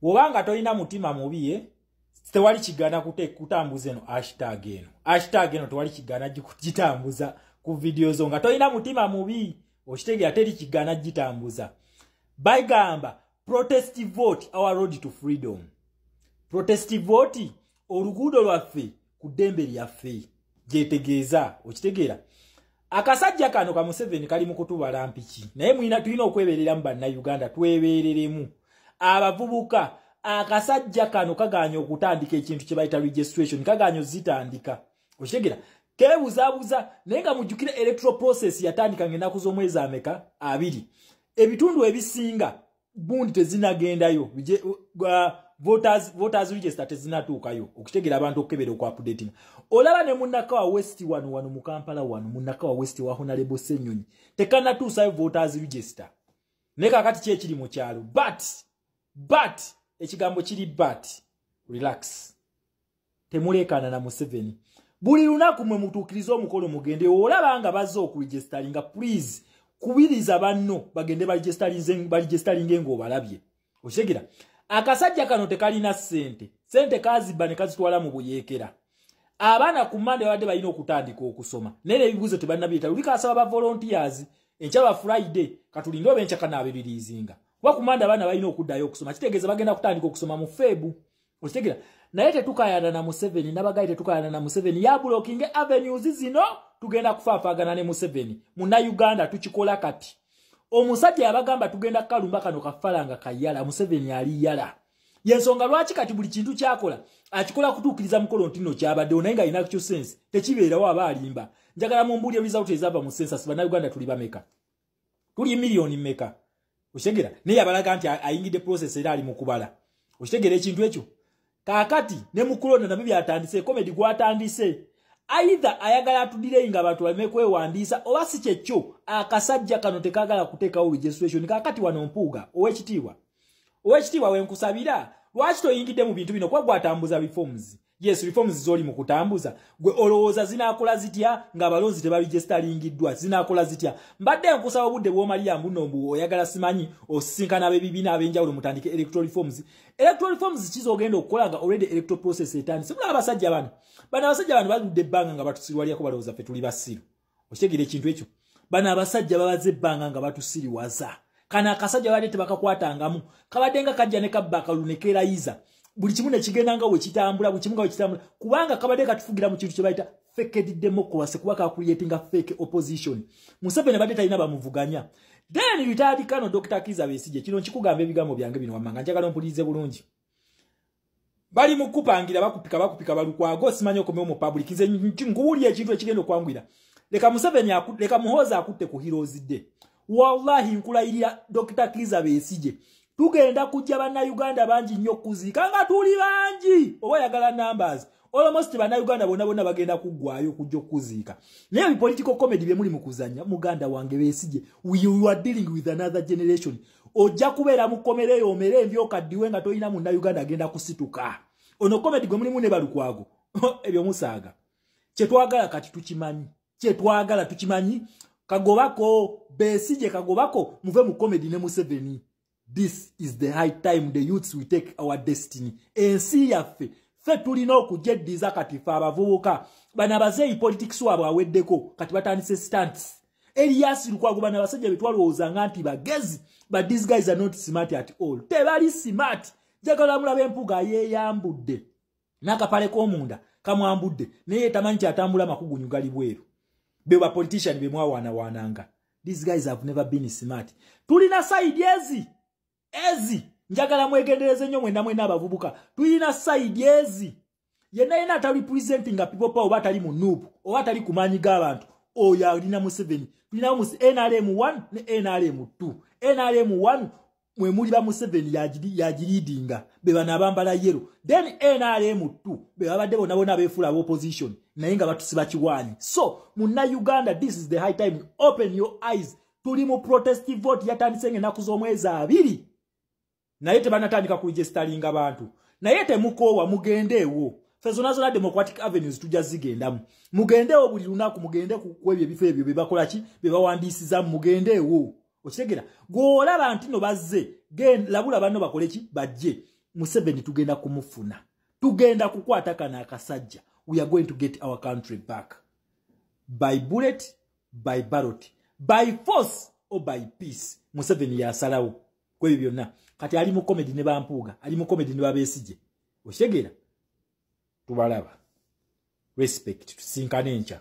wobanga tolina mutima mubi ye eh? tewali kigana kutambuza eno ashtag eno ashtag eno tewali kigana gitambuza ku vidiyo zo nga tolina mutima mubi okitegera teri kigana gitambuza bagamba protest vote our road to freedom protest vote oluguudo lwaffe ku ddembe lyaffe gyetegeeza okitegeera akasajja kano ka museveni kali mu kutubala mpiki naye mulina tulina okwebereramu bannayuganda twebereremu abavubuka akasajja kano kaganya okutandika ekintu kye bayita registration kaganya ozitandika okitegera kebuzabuza naye nga mujjukire electoral process yatandika ngaenaku z'omwezi ameka abiri ebitundu ebisinga gundi tezinagendayo voters, voters register tezinatuukayo okutegera abantu okukebera okuapudatinga olaba ne munakawa west wano wano mu kampala wano munakawa west wa honalebo senyonyi tekanatuusayo voters register naye kakati ki ekiri mu kyalo but but ekigambo kiri but relax temuleekaana na museveni buli lunaku mwe mutuukirize omukolo mugende olaba nga bazze okuregisteringa please kubiriza banno bagende baregisteringe ng'obalabye okitegera akasajja kano tekalina ssente ssente kazibba ne kazitwala mu buyeekera abaana ku mande babadde balina okutandika okusoma naye nebibuuzo tebalina bireeta luli kasaba ba volontiers enkya ba friday katulinde oba enkya kanaabebiriizinga kuba ku mande abaana balina okuddayo okusoma kitegeeza bagenda kutandika okusoma mu feebu okitegera naye tetukayana na museveni nabagayi tetukayana na museveni yabulokinge avenues zino tugenda kufaafagana ne museveni muna uganda tukikola kati omusajja yabagamba tugenda kukalumba kano kafalanga kayala museveni ali yala yensonga lwaki kati buli kintu kyakola akikola kutuukiriza mukolo ntino kyabaddewo naye nga alina kyo sense tekibeerawo aba alimba njagala mumbuulya result ezava mu sensa sibana uganda tuli bameka tuli million meka oshegera ne yabalaga nti ayingide process era ali mukubala oshegera ekintu ekyo kakati ne mukulona nabi byatandise comedy gwatandise aidha ayagala atudire inga abantu balime kwewandiisa oba si kyekyo akasajja kano tekagala kuteekawo registration kakati wano mpuuga owekitiibwa owekitiibwa wenkusabira lwaki toyingidde mu bintu bino kuba gwatambuza bifomuzi yes reforms zoli mu kutambuza gwe olowooza zinakola zitya nga abalonzi tebarijestalingiddwa zinakola zitya mbadde enkusaba obudde bwomalira mbuno mbu oyagala simanyi osisinkana abebibiina ab'enjawulo mutandike electoral reforms electoral reforms kiza ogenda okukola nga already electoral process etandise mulaba abasajja bano bano abasajja bano baludde ebbanga nga batusirwaliyako balowooza fe tuli basiru okitegera ekintu ekyo bano abasajja babaze ebbanga nga batusiriwaza kana akasajja baali tebakakwatangamu kabadde nga kajja ne kabba akalulu ne keerayiza buli kimu ne kigenda nga wekitambula buli kimu nga wekitambula kubanga kabadde katufugira mu kintu kye bayita fekedi democracy kuba kakuliyetinga fake opposition museveni badde talina bamuvuganya then ritadi kano dr kiza besije kino nkikugamba ebigambo byange bino wamanga njagala mpulirize bulungi bali mukupangira bakupika bakupika balukwago simanyi okomewo mu public nze nkuwulira ekintu ekigenda okwangwira leka museveni leka muhoozi akutte ku heroes day wallahi nkulayirira dr kiza besije tugenda kujja bannayuganda bangi nnyo okuziika nga tuli bangi oba yagala numbers almost bannayuganda bonna bonna bagenda kuggwayo okujja okuziika naye bipolitical comedy bye muli mu kuzanya muganda wange besije we are dealing with another generation ojja kubeera mu kkomera eyo omere embyoka ddiwe nga tolina munna uganda agenda kusituka ono komedi gwe mulimu ne balukwago ebyo musaaga kyetwagala kati tukimanyi kyetwagala tukimanyi kagobako besije kagobako muve mu komedi ne museveni this is the high time the youths we take our destiny ensi yaffe fe tulina okujeddiza kati fe abavubuka bana bazeeyi politics wabwe aweddeko kati batandise stants Elias Lukwago bana basajja betwalowooza nga nti bagezi but these guys are not smart at all tebali smart jagala mulaba empuga yeyambudde n'akapale k'omunda kamwambudde naye tamanyi kyatambula makugunyu gali bweru be ba politician be mwawaanawaananga these guys have never been smart tulina saidi ezi ezi njagala mwegendereze nnyo mwena mwena abavubuka tuyina sayidi ezi yenna yena atali purezidenti nga pipopa oba atali mu nuubu oba atali ku maanyi g'abantu oyo alina museveni tulinawo mu nrm 1 ne nrm 2 nrm 1 mwe muli ba museveni yagiriidinga be bano abambala yero then nrm 2 be babadde bona bona abeefuula aba opposition naye nga batusiba kiwaanyi so munna uganda this is the high time open your eyes tuli mu protest vote yatandise nga enaku z'omwezi abiri naye tebanatandika kuregisteringa bantu naye temukoowa mugendeewo fe zona zona democratic avenues tujja zigendamu mugendeewo buli lunaku mugende kwebyo ebifo ebyo bebakolaki bebawandiisiza mugendeewo okitegera gweolaba ntino bazze labula banno bakole ki bajje museveni tugenda kumufuna tugenda kukwata kana akasajja we are going to get our country back by bullet by ballot by force or by peace museveni yasalawo kwebyo byonna kati ali mu comedy ne bampuuga ali mu comedy ne babesigye okitegera tubalaba respect tusinkane enkya